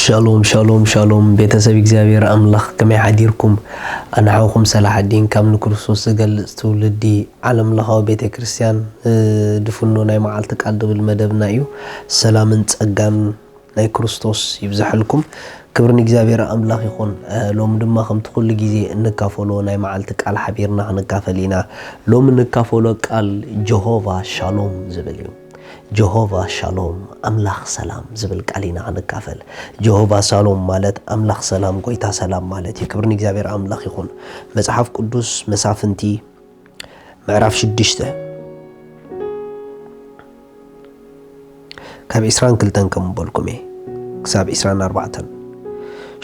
ሻሎም ሻሎም ሻሎም ቤተሰብ እግዚኣብሔር ኣምላኽ ከመይ ሓዲርኩም ኣነ ሓውኩም ሰላሓዲን ካብ ንክርስቶስ ዝገልጽ ትውልዲ ዓለም ለኻዊ ቤተ ክርስቲያን ድፍኖ ናይ መዓልቲ ቃል ድብል መደብና እዩ ሰላምን ጸጋን ናይ ክርስቶስ ይብዛሐልኩም ክብሪ ንእግዚኣብሔር ኣምላኽ ይኹን ሎሚ ድማ ከምቲ ኩሉ ግዜ እንካፈሎ ናይ መዓልቲ ቃል ሓቢርና ክንካፈል ኢና ሎሚ እንካፈሎ ቃል ጀሆቫ ሻሎም ዝብል እዩ ጀሆቫ ሻሎም፣ ኣምላኽ ሰላም፣ ዝብል ቃል ኢና ክንካፈል። ጀሆቫ ሳሎም ማለት ኣምላኽ ሰላም፣ ጎይታ ሰላም ማለት እዩ። ክብሪ ንእግዚኣብሔር ኣምላኽ ይኹን። መጽሓፍ ቅዱስ መሳፍንቲ ምዕራፍ ሽዱሽተ ካብ ዕስራን ክልተን ከም በልኩም እየ ክሳብ ዕስራን ኣርባዕተን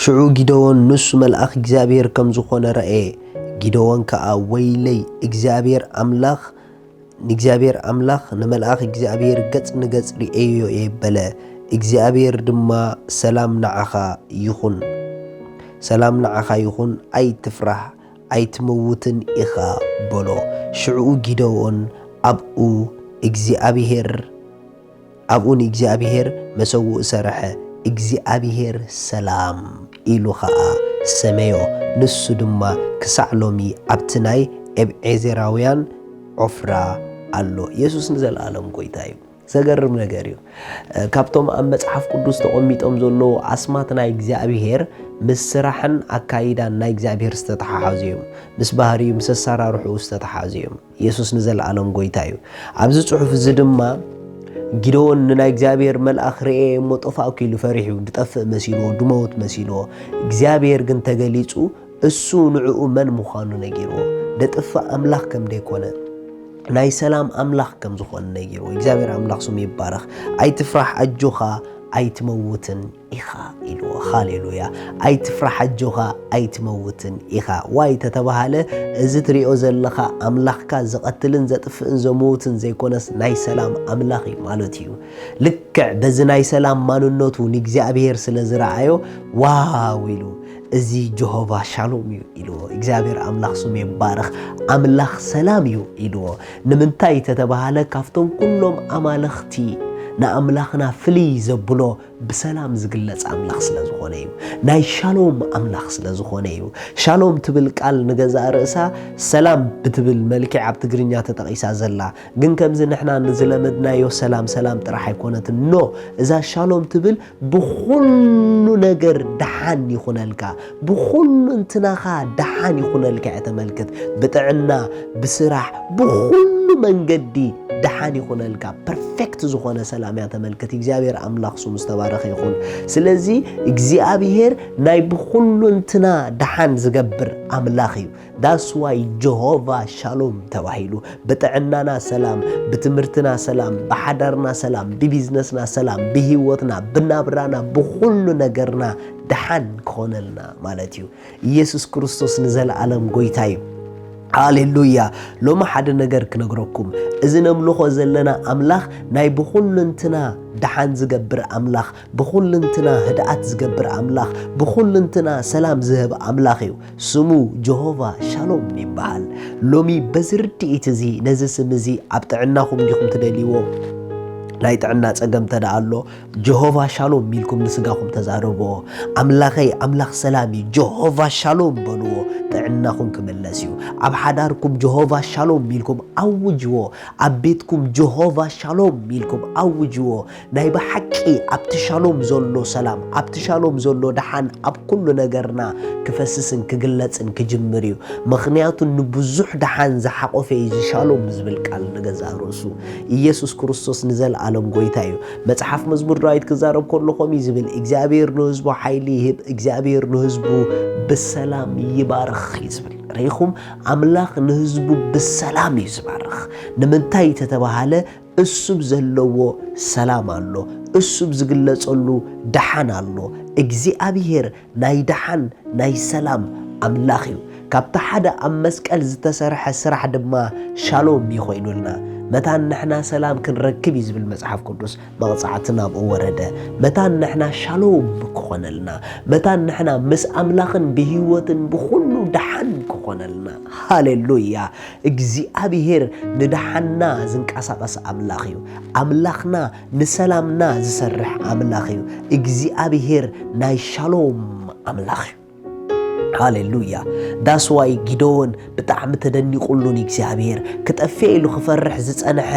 ሽዑ ጊደዎን ንሱ መልኣኽ እግዚኣብሔር ከም ዝኾነ ረኣየ። ጊደዎን ከዓ ወይለይ እግዚኣብሔር ኣምላኽ ንእግዚኣብሔር ኣምላኽ ንመልኣኽ እግዚኣብሔር ገጽ ንገጽ ርእየዮ እየ በለ። እግዚኣብሔር ድማ ሰላም ንዓኻ ይኹን ሰላም ንዓኻ ይኹን ኣይትፍራህ ኣይትመውትን ኢኻ በሎ። ሽዕኡ ጊደዎን ኣብኡ እግዚኣብሔር ኣብኡ ንእግዚኣብሄር መሰውኢ ሰርሐ፣ እግዚኣብሄር ሰላም ኢሉ ኸኣ ሰመዮ፣ ንሱ ድማ ክሳዕ ሎሚ ኣብቲ ናይ ኤብዔዜራውያን ዖፍራ ኣሎ። የሱስ ንዘለኣለም ጐይታ እዩ። ዘገርም ነገር እዩ፣ ካብቶም ኣብ መጽሓፍ ቅዱስ ተቐሚጦም ዘለዉ ኣስማት ናይ እግዚኣብሄር ምስ ስራሕን ኣካይዳን ናይ እግዚኣብሄር ዝተተሓሓዙ እዮም፣ ምስ ባህርዩ ምስ ኣሰራርሕኡ ዝተተሓዙ እዮም። የሱስ ንዘለኣለም ጐይታ እዩ። ኣብዚ ጽሑፍ እዚ ድማ ጊደዎን ንናይ እግዚኣብሔር መልኣኽ ርኤ እሞ ጠፋእኩ ኢሉ ፈሪሑ ድጠፍእ መሲልዎ ድመውት መሲልዎ እግዚኣብሔር ግን ተገሊጹ እሱ ንዕኡ መን ምዃኑ ነጊርዎ ደጥፍእ ኣምላኽ ከም ደይኮነ ናይ ሰላም ኣምላኽ ከም ዝኾነ ነጊርዎ እግዚኣብሔር ኣምላኽ ስሙ ይባረኽ ኣይትፍራሕ ኣጆኻ ኣይትመውትን ኢኻ ኢልዎ ሃሌሉያ ኣይትፍራሕ ኣጆኻ ኣይትመውትን ኢኻ ዋይ ተተባሃለ እዚ ትሪኦ ዘለኻ ኣምላኽካ ዝቐትልን ዘጥፍእን ዘምውትን ዘይኮነስ ናይ ሰላም ኣምላኽ እዩ ማለት እዩ ልክዕ በዚ ናይ ሰላም ማንነቱ ንእግዚኣብሔር ስለ ዝረኣዮ ዋው ኢሉ እዚ ጀሆቫ ሻሎም እዩ ኢልዎ እግዚኣብሔር ኣምላኽ ስሙ ይባረኽ ኣምላኽ ሰላም እዩ ኢልዎ ንምንታይ ተተባሃለ ካብቶም ኩሎም ኣማለኽቲ ንኣምላኽና ፍልይ ዘብሎ ብሰላም ዝግለጽ ኣምላኽ ስለ ዝኾነ እዩ። ናይ ሻሎም ኣምላኽ ስለ ዝኾነ እዩ። ሻሎም ትብል ቃል ንገዛእ ርእሳ ሰላም ብትብል መልክዕ ኣብ ትግርኛ ተጠቒሳ ዘላ ግን ከምዚ ንሕና ንዝለመድናዮ ሰላም ሰላም ጥራሕ ኣይኮነትን ኖ እዛ ሻሎም ትብል ብኹሉ ነገር ደሓን ይኹነልካ ብኹሉንትናኻ ደሓን ይኹነልካ እያ ተመልክት ብጥዕና ብስራሕ ብኹሉ መንገዲ ደሓን ይኹነልካ ፐርፌክት ዝኾነ ሰላም እያ ተመልክት እግዚኣብሔር ኣምላኽ ስሙ ዝተባረኸ ይኹን ስለዚ እግዚኣብሔር ናይ ብኹሉንትና ደሓን ዝገብር ኣምላኽ እዩ ዳስ ዋይ ጆሆቫ ሻሎም ተባሂሉ ብጥዕናና ሰላም ብትምህርትና ሰላም ብሓዳርና ሰላም ብቢዝነስና ሰላም ብሂወትና ብናብራና ብኹሉ ነገርና ደሓን ክኾነልና ማለት እዩ ኢየሱስ ክርስቶስ ንዘለኣለም ጎይታ እዩ ሃሌሉያ ሎሚ ሓደ ነገር ክነግረኩም እዚ ነምልኾ ዘለና ኣምላኽ ናይ ብኹንንትና ደሓን ዝገብር ኣምላኽ ብኹልንትና ህድኣት ዝገብር ኣምላኽ፣ ብኹልንትና ሰላም ዝህብ ኣምላኽ እዩ። ስሙ ጀሆቫ ሻሎም ይበሃል። ሎሚ በዚ ርድኢት እዚ ነዚ ስም እዚ ኣብ ጥዕናኹም ዲኹም ትደልይዎ? ናይ ጥዕና ጸገም እንተ ደኣ ኣሎ ጀሆቫ ሻሎም ኢልኩም ንስጋኹም ተዛረብዎ። ኣምላኸይ ኣምላኽ ሰላም እዩ፣ ጀሆቫ ሻሎም በልዎ፣ ጥዕናኹም ክምለስ እዩ። ኣብ ሓዳርኩም ጀሆቫ ሻሎም ኢልኩም ኣውጅዎ። ኣብ ቤትኩም ጀሆቫ ሻሎም ኢልኩም ኣውጅዎ። ናይ ብሓቂ ኣብቲ ሻሎም ዘሎ ሰላም ኣብቲ ሻሎም ዘሎ ደሓን ኣብ ኩሉ ነገርና ክፈስስን ክግለጽን ክጅምር እዩ ምክንያቱ ንብዙሕ ደሓን ዝሓቆፈ እዩ እዚ ሻሎም ዝብል ቃል ንገዛእ ርእሱ ኢየሱስ ክርስቶስ ንዘለኣለም ጎይታ እዩ መጽሓፍ መዝሙር ዳዊት ክዛረብ ከሎ ከምኡ እዩ ዝብል እግዚኣብሔር ንህዝቡ ሓይሊ ይህብ እግዚኣብሔር ንህዝቡ ብሰላም ይባርኽ እዩ ዝብል ርኢኹም ኣምላኽ ንህዝቡ ብሰላም እዩ ዝባርኽ ንምንታይ ተተባሃለ እሱብ ዘለዎ ሰላም ኣሎ፣ እሱብ ዝግለጸሉ ደሓን ኣሎ። እግዚኣብሄር ናይ ደሓን ናይ ሰላም ኣምላኽ እዩ። ካብቲ ሓደ ኣብ መስቀል ዝተሰርሐ ስራሕ ድማ ሻሎም እዩ ኮይኑልና። መታን ንሕና ሰላም ክንረክብ እዩ ዝብል መጽሓፍ ቅዱስ መቕጻዕቲ ናብኡ ወረደ። መታን ንሕና ሻሎም ክኾነልና፣ መታን ንሕና ምስ ኣምላኽን ብህይወትን ብኹሉ ደሓን ክኾነልና። ሃሌሉያ እግዚኣብሄር ንደሓንና ዝንቀሳቐስ ኣምላኽ እዩ። ኣምላኽና ንሰላምና ዝሰርሕ ኣምላኽ እዩ። እግዚኣብሄር ናይ ሻሎም ኣምላኽ እዩ። ሃሌሉያ ዳስዋይ ጊደዎን ብጣዕሚ ተደኒቑሉ ንእግዚኣብሄር ክጠፍኤ ኢሉ ክፈርሕ ዝጸንሐ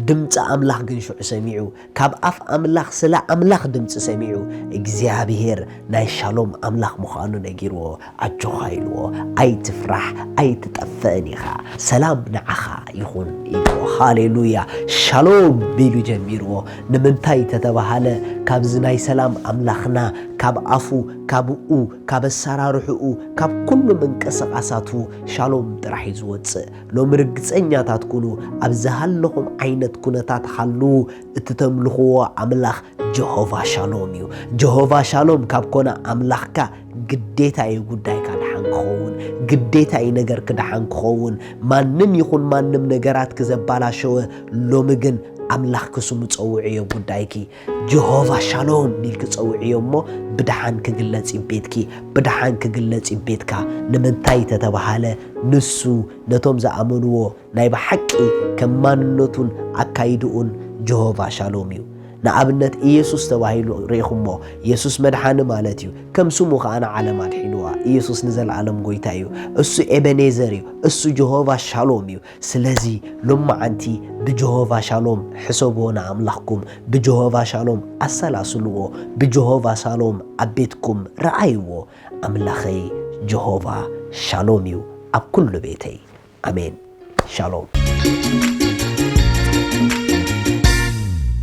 ድምፂ ኣምላኽ ግን ሽዑ ሰሚዑ ካብ ኣፍ ኣምላኽ ስለ ኣምላኽ ድምጺ ሰሚዑ እግዚኣብሄር ናይ ሻሎም ኣምላኽ ምዃኑ ነጊርዎ ኣጆኻ ኢልዎ ኣይትፍራሕ ኣይትጠፍእን ኢኻ ሰላም ንዓኻ ይኹን ኢልዎ ሃሌሉያ ሻሎም ቢሉ ጀሚርዎ ንምንታይ ተተባሃለ ካብዚ ናይ ሰላም ኣምላኽና ካብ ኣፉ ካብኡ ካብ ኣሰራርሕኡ ካብ ኩሉ ምንቅስቓሳቱ ሻሎም ጥራሕ እዩ ዝወጽእ ሎሚ ርግጸኛታት ኩኑ፣ ኣብ ዝሃለኹም ዓይነት ኩነታት ሃልዉ፣ እቲ ተምልኽዎ ኣምላኽ ጀሆቫ ሻሎም እዩ። ጀሆቫ ሻሎም ካብ ኮነ ኣምላኽካ ግዴታ እዩ ጉዳይካ ደሓን ክኸውን፣ ግዴታ እዩ ነገርክ ደሓን ክኸውን። ማንም ይኹን ማንም ነገራትኪ ዘባላሸወ ሎሚ ግን ኣምላኽኪ ስሙ ጸውዕዮ ጉዳይኪ። ጀሆቫ ሻሎም ኢልኪ ጸውዕዮ እሞ ብደሓን ክግለጽ እዩ ቤትኪ ብደሓን ክግለጽ እዩ ቤትካ ንምንታይ ተተባሃለ ንሱ ነቶም ዝኣመንዎ ናይ ብሓቂ ከም ማንነቱን ኣካይድኡን ጀሆቫ ሻሎም እዩ ንኣብነት ኢየሱስ ተባሂሉ ርኢኹሞ ኢየሱስ መድሓኒ ማለት እዩ ከም ስሙ ከዓ ንዓለም ኣድሒንዋ ኢየሱስ ንዘለኣለም ጎይታ እዩ እሱ ኤበኔዘር እዩ እሱ ጀሆቫ ሻሎም እዩ ስለዚ ሎምዓንቲ ብጀሆቫ ሻሎም ሕሰብዎ ንኣምላኽኩም ብጀሆቫ ሻሎም ኣሰላስልዎ ብጀሆቫ ሳሎም ኣብ ቤትኩም ርኣይዎ ኣምላኸይ ጀሆቫ ሻሎም እዩ ኣብ ኩሉ ቤተይ ኣሜን ሻሎም።